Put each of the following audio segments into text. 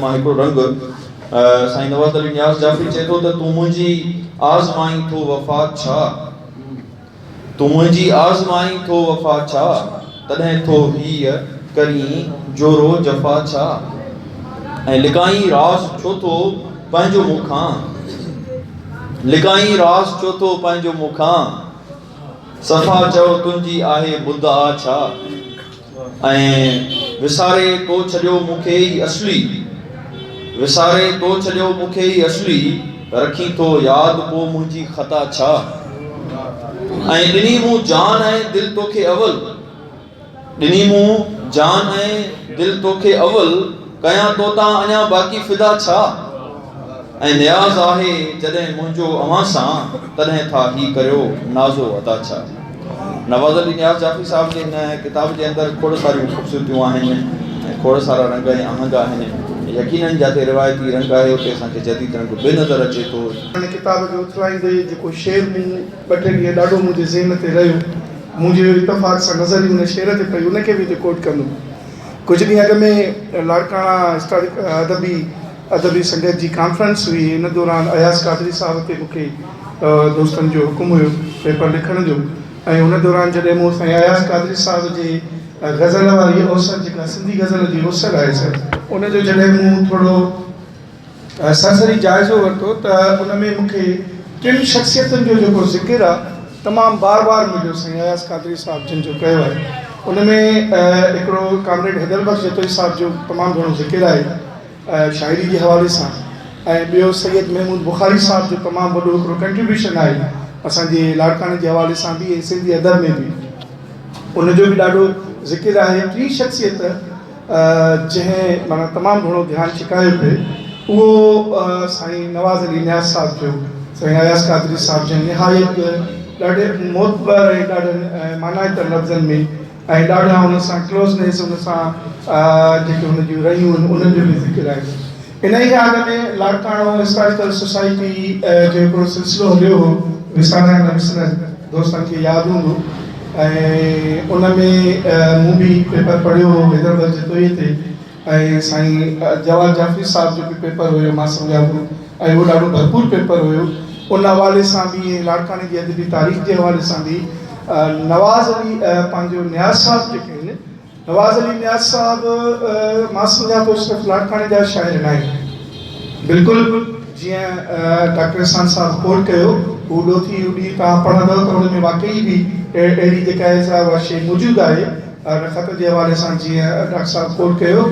مان هڪڙو رنگ. سائين نواز علي نياز جعفري چئي ٿو ته تون منهنجي آزمائين ٿو وفا ڇا؟ تون منهنجي آزمائين ٿو وفا ڇا؟ تڏهن ٿو هيء ڪرين جورو جفا ڇا؟ ۽ لڪائين راز ڇو ٿو پنهنجو مون کان؟ لڪائين راز ڇو ٿو پنهنجو مون کان؟ صفا چئو تنهنجي آهي مدعا ڇا؟ ۽ وساري تو ڇڏيو مون کي ئي اصلي وساري تو ڇڏيو مون کي ئي اصلي رکين ٿو ياد پو منهنجي خطا ڇا ۽ ڏني مون جان ۽ دل توکي اول ڏني مون جان ۽ دل توکي اول ڪيان توتان اڃا باقي فدا ڇا. ۽ نياز آهي جڏهن منهنجو اوهان سان تڏهن ٿا هي ڪريو نازو ادا ڇا. نواز علي نياز جعفري صاحب جي هن ڪتاب جي اندر کوڙ ساريون خوبصورتيون آهن ۽ کوڙ سارا رنگ ۽ آهنگ آهن يقينن جاتي روايتي رنگ آهي اتي اسان کي جديد رنگ به نظر اچي ٿو. هن ڪتاب کي اٿلائيندي جيڪو شعر مون ٻه ٽي ڏينهن ڏاڍو منهنجي ذهن تي رهيو منهنجي اتفاق سان نظر ئي ان شعر تي پئي ان کي به هتي ڪوٽ ڪندم ڪجهه ڏينهن اڳ ۾ لاڙڪاڻا هسٽارڪ ادبي ادبي سنگت جي ڪانفرنس هئي ان دوران اياز قادري صاحب تي مونکي دوستن جو حڪم هيو پيپر لکڻ جو ۽ ان دوران جڏهن مون سائين اياز قادري صاحب جي غزل واري اوسر جيڪا سنڌي غزل جي اوسر آهي سر ان جو جڏهن مون ٿورو سرسري جائزو ورتو ته ان ۾ مونکي ٽن شخصيتن جو جيڪو ذڪر آهي تمام بار بار مليو سائين اياز قادري صاحب جن جو ڪيو آهي ان ۾ هڪڙو ڪامريڊ حيدر بخش جتوئي صاحب جو تمام گهڻو ذڪر آهي شاعري جي حوالي سان ۽ ٻيو سيد محمود بخاري صاحب جو تمام وڏو هڪڙو ڪنٽريبيوشن آهي اسان جي لاڙڪاڻي جي حوالي سان به ۽ سنڌي ادب ۾ به ان جو به ڏاڍو ذڪر آهي ٽي شخصيت جنهن معنيٰ تمام گهڻو ڌيان ڇڪايو پئي اهو سائين نواز علي نياز صاحب جو سائين اياز قادري صاحب جنهن نهايت ڏاڍي معتبر ۽ ڏاڍن معنائتن لفظن ۾ ۽ ڏاڍا ان سان ڪلوزنيس ان سان جيڪي هن جون رهيون آهن انهن جو به ذڪر آهي. انهيء آڳ ۾ لاڙڪاڻو هسٽاريڪل سوسائٽي جو هڪڙو سلسلو هليو هو وسارڻ نه وسرڻ دوستن کي ياد هوندو ۽ ان ۾ مون به پيپر پڙهيو هو حيدرآباد جتوئيء تي ۽ سائين جواد جعفري صاحب جو به پيپر هيو مان سمجهان ٿو ۽ اهو ڏاڍو ڀرپور پيپر هيو ان حوالي سان به ۽ لاڙڪاڻي جي ادبي تاريخ جي حوالي سان به نواز علي پنهنجو نياز صاحب جيڪي آهن نواز علي نياز صاحب مان سمجهان ٿو صرف لاڙڪاڻي جا شاعر نه آهن بلڪل جيئن ڊاڪٽر احسان صاحب ڪوٽ ڪيو هو ڏوٿي اڏي توهان پڙهندؤ ته ان ۾ واقعي به اهڙي جيڪا آهي سا اها شيء موجود آهي ان خط جي حوالي سان جيئن ڊاڪٽر صاحب ڪوٽ ڪيو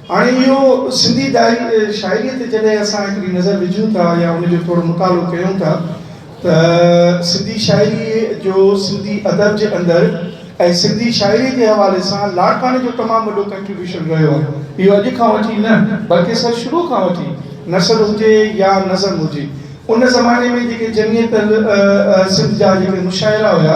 هاڻي اهو سنڌي دائري شاعريء تي جڏهن اسان هڪڙي نظر وجهون ٿا يا ان جو ٿورو مطالعو ڪيون ٿا ته سنڌي شاعريء جو سنڌي ادب جي اندر ۽ سنڌي شاعريء جي حوالي سان لاڙڪاڻي جو تمام وڏو ڪنٽريبيوشن رهيو آهي اهو اڄ کان وٺي نه بلڪه سر شروع کان وٺي نثر هجي يا نظم هجي ان زماني ۾ جيڪي جمعيت سنڌ جا جيڪي مشاعرا هيا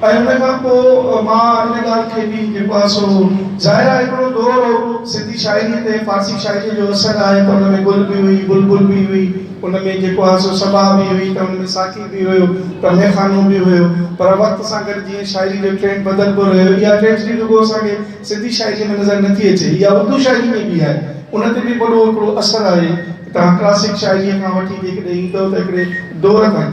۽ ان کان پوء مان ان ڳالهه کي به نپاسو. ظاهر آهي هڪڙو دور هو، سنڌي شاعريء تي فارسي شاعريء جو اثر آهي ته ان ۾ گل به هئي، بلبل به هئي، ان ۾ جيڪو آهي سو سڀاء به هئي ته ان ۾ ساقي به هيو ته ميخانو به هيو. پر وقت سان گڏ جيئن شاعريء جو ٽرينڊ بدلبو رهيو، اها ٽريجڊي رڳو اسان کي سنڌي شاعريء ۾ نظر نٿي اچي، اها اردو شاعريء ۾ به آهي. ان تي به وڏو هڪڙو اثر آهي. توهان ڪلاسڪ شاعريء کان وٺي جيڪڏهن ايندؤ ته هڪڙي دور تائين.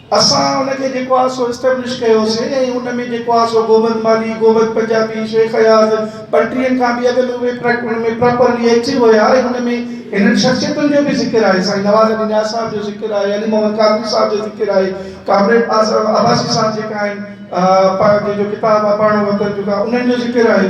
اسان ان کي جيڪو آهي سو اسٽيبلش ڪيوسين ۽ ان ۾ جيڪو آهي سو گوبند مالهي، گوبند پنجابي، شيخ اياز، ٻنٽيهن کان به اڳ ۾ اهي ان ۾ پراپرلي ايڪٽو هيا ۽ ان ۾ هنن شخصيتن جو به ذڪر آهي، سائين نواز علي نياز صاحب جو ذڪر آهي، علي محمد قادري صاحب جو ذڪر آهي، ڪامريڊ اعظم عباسي صاحب جيڪا آهن، پنهنجي جو ڪتاب آهي پرڻو وطن جو ڪا انهن جو ذڪر آهي.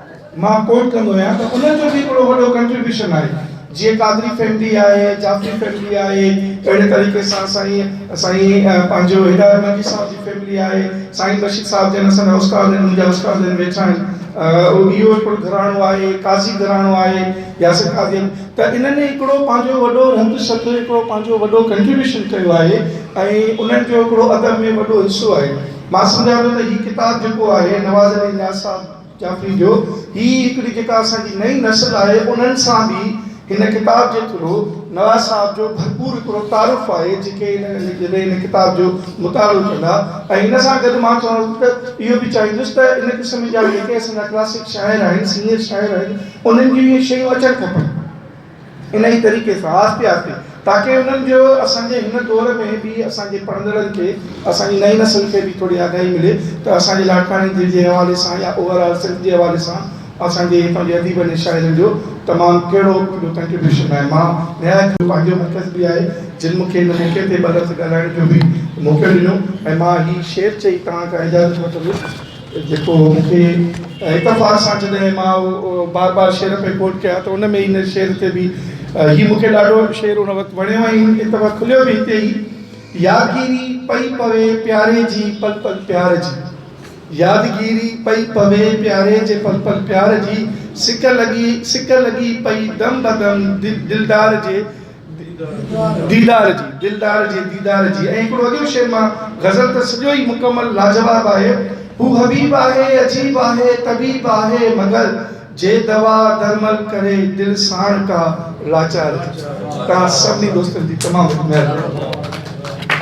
مان ڪوٽ ڪندو آهيان ته انهن جو به هڪڙو وڏو ڪنٽريبيوشن آهي جيئن قادري فيملي آهي جعفري فيملي آهي اهڙي طريقي سان سائين سائين پنهنجو هدايت ملڪي صاحب جي فيملي آهي سائين رشيد صاحب جن اسان جا استاد آهن منهنجا استاد آهن ويٺا آهن اهو هڪڙو گهراڻو آهي قاضي گهراڻو آهي ياسر قاضي ته انهن هڪڙو پنهنجو وڏو رنڌ سڌ هڪڙو پنهنجو وڏو ڪنٽريبيوشن ڪيو آهي ۽ انهن جو هڪڙو ادب ۾ وڏو حصو آهي مان سمجهان ٿو ته هي ڪتاب جيڪو آهي نواز علي نياز صاحب چيان ٿي جو هي هڪڙي جيڪا اسان جي نئين نسل آهي انهن سان به هن ڪتاب جي ٿرو نواز صاحب جو ڀرپور هڪڙو تعارف آهي جيڪي هن جڏهن هن ڪتاب جو مطالعو ڪندا ۽ ان سان گڏ مان چوان ته اهو به چاهيندس ته ان قسم جا جيڪي اسان جا ڪلاسڪ شاعر آهن سينئر شاعر آهن انهن جون اهي شيون اچڻ کپن. انهيء طريقي سان آهستي آهستي تاڪي انهن جو اسان جي هن دور ۾ به اسان جي پڙهندڙن کي اسان جي نئين نسل کي به ٿوري آگاهي ملي ته اسان جي لاڙڪاڻي دل جي حوالي سان يا اوور آل سنڌ جي حوالي سان اسان جي هتان جي اديبن ۽ شاعرن جو تمام ڪهڙو وڏو ڪنٽريبيوشن آهي مان نهايت پنهنجو مرڪز به آهي جن مون کي هن موقعي تي ٻه لفظ ڳالهائڻ جو به موقعو ڏنو ۽ مان هي شعر چئي توهان کان اجازت وٺندس. جيڪو مون کي اتفاق سان جڏهن مان بار بار شعر پئي ڪوٽ ڪيان ته ان ۾ هن شعر تي به هي مون کي ڏاڍو شعر ان وقت وڻيو ۽ هن ڪتاب کليو به هتي ئي يادگيري پئي پوي پياري جي پل پل پيار جي يادگيري پئي پوي پياري جي پل پل پيار جي سڪ لڳي سڪ لڳي پئي دم بدم دلدار جي ديدار جي، دلدار جي ديدار جي ۽ هڪڙو عجب شعر مان غزل ته سڄو ئي مڪمل لاجواب آهي، هو حبيب آهي، عجيب آهي، طبيب آهي، مگر جي دوا درمل ڪري دل ساڻ ڪا لاچار جي. توهان سڀني دوستن جي تمام وڏي مهرباني.